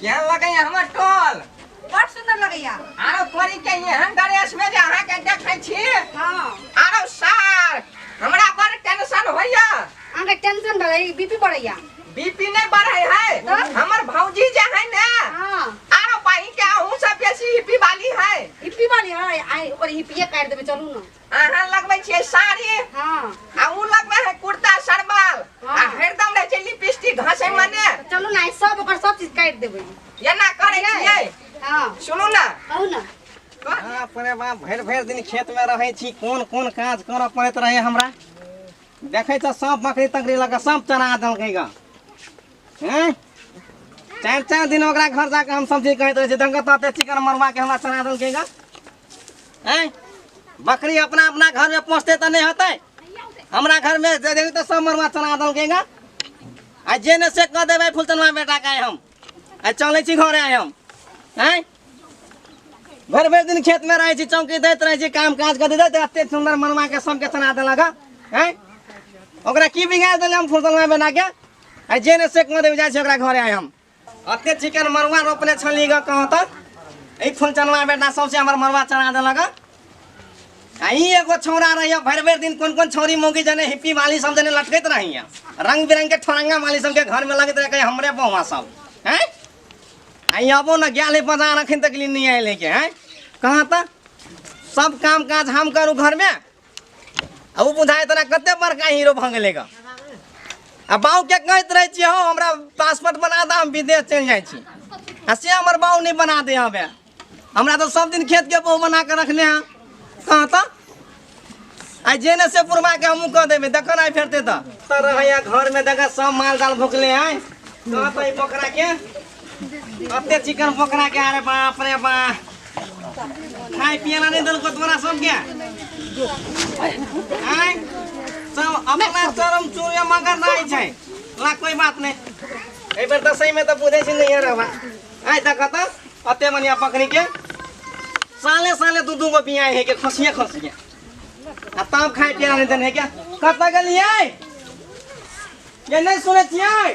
क्या लगैया हमर टोल बड़ सुंदर लगैया आरो तोरी के एहन ड्रेस में जे अहाँ के देखै छी हाँ आरो सार हमरा बड़ टेंशन होइया अहाँके टेंशन भऽ गेल बीपी बढ़ैया बीपी नहीं बढ़े है तब? हमर भौजी जे है ने हाँ आरो पाही के अहू से बेसी हिपी वाली है हिप्पी वाली है आइ ओकर हिप्पिए काटि देबै चलू ने अहाँ लगबै छियै साड़ी हाँ आ उ लगबै है कुर्ता सरबाल आ हाँ। हरदम रहै छै लिपस्टिक घसै मने तो चलू ना ई सब ओकर सब चीज काट देबै एना करै छियै हाँ सुनू ना कहू ना हाँ, अपने बा भरि भरि दिन खेत में रहै छी कोन कोन काज करऽ पड़ैत रहै हमरा देखै छ सब बकरी तकरी लऽ कऽ सब चरा देलकै ग हैं चारि चारि दिन ओकरा घर जाके हम सब्जी कहैत रहै छी दंगत रहतै चिकन मरवा के हमरा चरा देलकै ग हैं बकरी अपना अपना घर में पहुँचते तो नहीं होते हमरा घर में दे देगी तो सब मरवा चना दल गेगा आ जे ने से कह देवे फुलचनवा बेटा का हम आ चले छी घरे आए हम हैं भर भर दिन खेत में रहे छी चौकी देत रहे छी काम काज कर देत एते सुंदर मनवा के सब के चना दल लगा हैं ओकरा की बिगाड़ देले हम फुलचनवा बेटा के आ जे ने से कह देवे जाय छी ओकरा घरे आए हम अते चिकन मरुआ रोपले छली ग कहाँ तक ए फूल चनवा बेटा सबसे हमर मरुआ चना देलक आई एगो छौरा रहिया भर भर दिन कोन कोन छौरी मौगी जने हिप्पी वाली सब जने लटकत रहिया रंग बिरंग के ठोरंगा वाली सब के घर में लगत रहे कहीं हमरे बहुआ सब हैं आई अबो न गया बाजार अखन तक लिए नहीं आए लेके हैं कहाँ तक सब काम काज हम करूँ घर में अब बुझाए तना कते बड़का हीरो भऽ गेलै ग आ बाऊ के कहैत रहै छी हँ हमरा पासपोर्ट बना दऽ हम विदेश चलि जाइ छी आ से हमर बाऊ नहि बना दे हबे हमरा तऽ सब दिन खेत के बहु बना के रखने हैं कहाँ तऽ आ जे ने से पुरमा के हमहूँ कह देबै देखऽ ने आइ फेरते तऽ रहैया घर में देखऽ सब माल जाल भोकले हैं कहाँ तऽ ई पोखरा के कते चिकन पकड़ा के अरे बाप रे बा खाए पियला नहीं दल को तोरा सब क्या आय सब अपना शरम चोरे मगर नहीं छै ला कोई बात नहीं ए बेर दसई में तो बुझे छी नहीं रे बा आय तक त अते मनिया पकड़ी के साले साले दू दू गो बियाह है के खसिया खसिया आ तब खाए पियला नहीं दन है क्या कत गलिए ये नहीं सुने छियै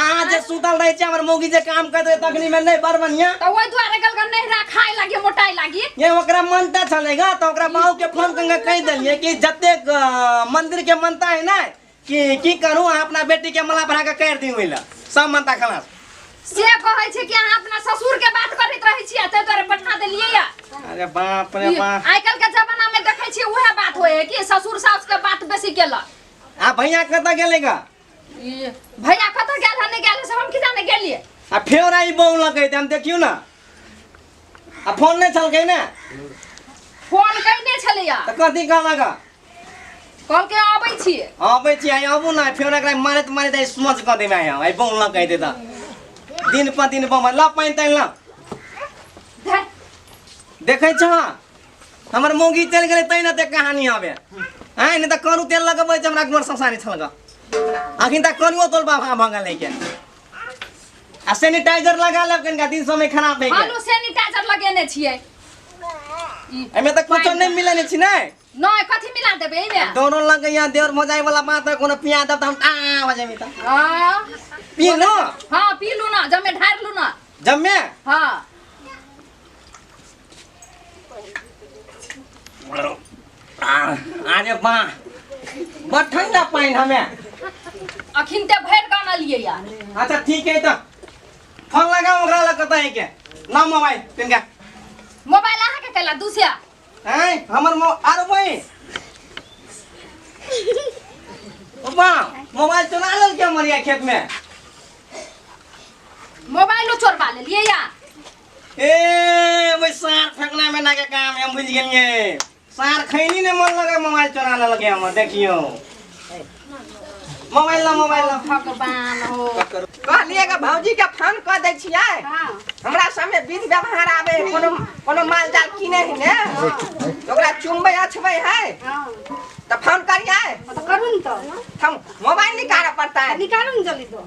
अहाँ जे सुतल रहै छै हमर मौगी जे काम करत रहै तखनी में नहीं बड़ बढ़िया तो वही द्वारे गल गल नहीं रखाए लगी मोटाई लगी ये ओकरा मनता छले गा तो ओकरा बाऊ के फोन करके कह देलिए कि जते मंदिर के मनता है ना कि की करूं अहाँ अपना बेटी के मला भरा के कर दी होइला सब मनता खलास से कहे छे कि अहाँ अपना ससुर के बात करत रहे छी ते तोरे पठा देलिए या अरे बाप रे बाप आइ काल के जमाना में देखे छी उहे बात होए कि ससुर सास के बात बेसी केला आ भैया कत गेले गा ई भैया कतऽ गेल है नहि गेल है से हम की जाने गेलिए आ फेर आई बौन लगे हम देखियो ना आ फोन नहीं छलके ने फोन कइने छलैया तो कथी कहला का कल के आबै छिए आबै छी आई आबू ना फेर एकरा मारत मारत आई समझ क देमे आई आई बौन लगे दे ता दिन पर दिन बम ला पाइन ताइन ला धर देखे छ हमर मौगी चलि गेलै तै ने ते कहानी आबे आँय नहि तऽ करू तेल लगबै छै हमरा घर संसारी छलगा अखन तक कनियो तोल बाबा भऽ गेलै के आ सैनिटाइजर लगा लेब कनिका दिन समय खराब भए गेल हमहूँ सैनिटाइजर लगेने छियै ई एहिमे तऽ कुछो नहि मिलै नहि छी ने नहि कथी मिला देबै एहिमे दोनो लग यहाँ देवर मजाइ वाला बात है कोनो पिया देब तऽ हम आ हो जेबी तऽ हाँ पी लो हाँ पी लू ना जमे ढार लू ना जम्मे हाँ आरे बा बड़ ठंडा पानी हमें अखिन ते भरि गान अलियै यार अच्छा ठीक है तो फोन लगा ओकरा लग कतऽ है के ना मोबाइल तिनका मोबाइल अहाँ के कैला दूसरा हैं हमर मो आरो बहिन बा मोबाइल चुरा लेल के मरिया खेत में मोबाइलो चोरबा लेलियै यार ए ओइ सार फेंकना में ना के काम है हम बुझ गेलिए सार खैनी ने मन लगे मोबाइल चोराने लगे हम देखियो मोबाइल ना मोबाइल ना भगवान हो कहलिए के भौजी के फोन क दै छियै हाँ हमरा सामने विध व्यवहार आवे है, कोनो कोनो माल जाल किने है ने तो ओकरा चुमबै अछबै है हाँ तो फोन करियै तो करू न तो हम मोबाइल निकालऽ पड़तै निकालू न जल्दी तो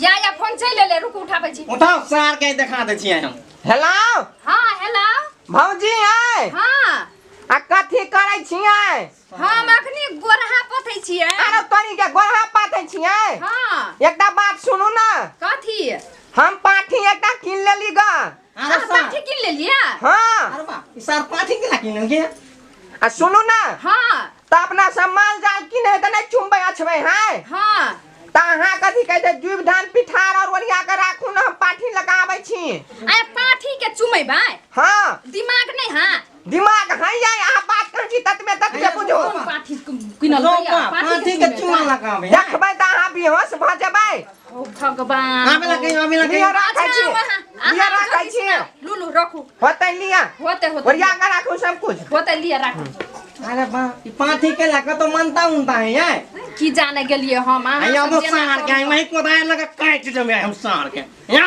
या या फोन चलि एलै रुक उठाबै छी उठाओ सार के देखा दै छियै हम हेलो हँ हेलो भौजी है हँ आ कथी करै छियै हम अखनी गोरहा पथै छियै अरे तोरी के गोरहा पाथै छियै हँ एकटा बात सुनू ने कथी हम पाठी एकटा किन लेली ग अरे सार सा- पाठी किन लेलिए हाँ अरे बा ई सार पाठी के ना किनल के आ सुनू ना हाँ तो अपना सब माल जाल किने है तो नहीं चुम्बे अछबे हैं हाँ तो अहाँ कथी कहै छै जुब धान पिठार और ओरिया के राखू ना हम पाठी लगाबै छी अरे पाठी के चुमेबै हाँ दिमाग नहीं है दिमाग हई जाए अहाँ बात करै छी ततबे ततबे बुझू पाठी किनल रोपा पाठी के चुमा लगावे देखबै तऽ अहाँ बेहोश भऽ जेबै ओ भगवान आबे लगे आबे लगे लिअ राखै छी लिअ राखै छी लुलु रखू होतै लिअ होतै होतै ओरिया कऽ राखू सब कुछ होतै लिअ राखू अरे बा ई पाठी के लगा तो मानता उनता है ये की जाने गेलिए हम अहाँ आया सब हम जेना सार के करू। आई वही कोदाय लगा काट जमे हम सार के या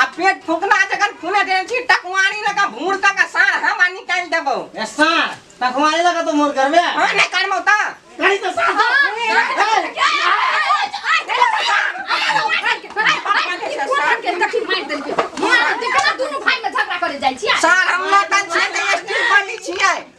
आ पेट फुकना जखन फुले देने छी टकवारी लगा भूर तक सार हम आ निकाल देबो ए सार टकवारी लगा तो मोर घर में हां नहीं करमो त करी तो सार सार हम ना तन छे स्टील बनी छिए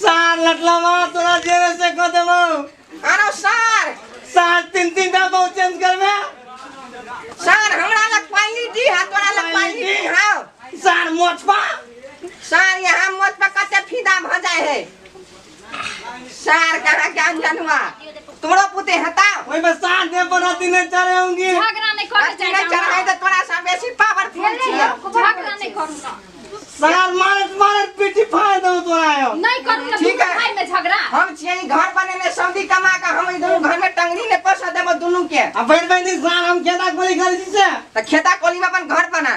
सार लटलावा तोरा जेरे से कह देबो अरे सर सार तीन तीन टा बहु चेंज करबे सर हमरा लग पानी दी हा तोरा लग पानी दी हा सार मोचपा सर यहाँ मोत पर कते फीदा भ जाए है सार कहा के अनजान हुआ तोरा पुते हता ओई में साथ दे पर अति ने चढ़े होंगे झगड़ा नहीं करे अति ने चढ़ाई त तोरा सब बेसी पावरफुल छी झगड़ा नहीं करूंगा सार मारत मारत पीठी फाड़ दो तोरा आयो नहीं करूंगा ठीक है। भाई में झगड़ा हम छिए ई घर बनेले सऊदी कमा के हम ई दुनू घर में टंगरी ने पसा देबो दुनू के अब बैठ बैठ सार हम खेता कोली कर दी से त खेता कोली में अपन घर बना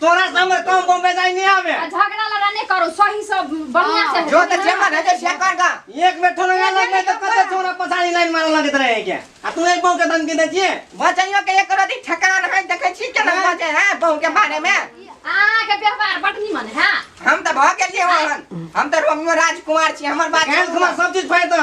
तोरा से हमर काम बम बेजाय नहीं आवे आ झगड़ा लड़ा नहीं करो सही से बढ़िया से जो तो जे मन है जे से कर का एक बेर ठोना ना लग गए तो कते छोरा पछाड़ी लाइन मारे लगत रहे क्या आ तू एक बम के दन के देतिए बचैयो के एक रति ठकान है देखे छी केना बजे है बहू के बारे में अहाँ के व्यवहार बड निमन है हम तो भ गेलिए वहन हम तो रोमियो राजकुमार छी हमर बात गैस घुमा सब चीज फायदा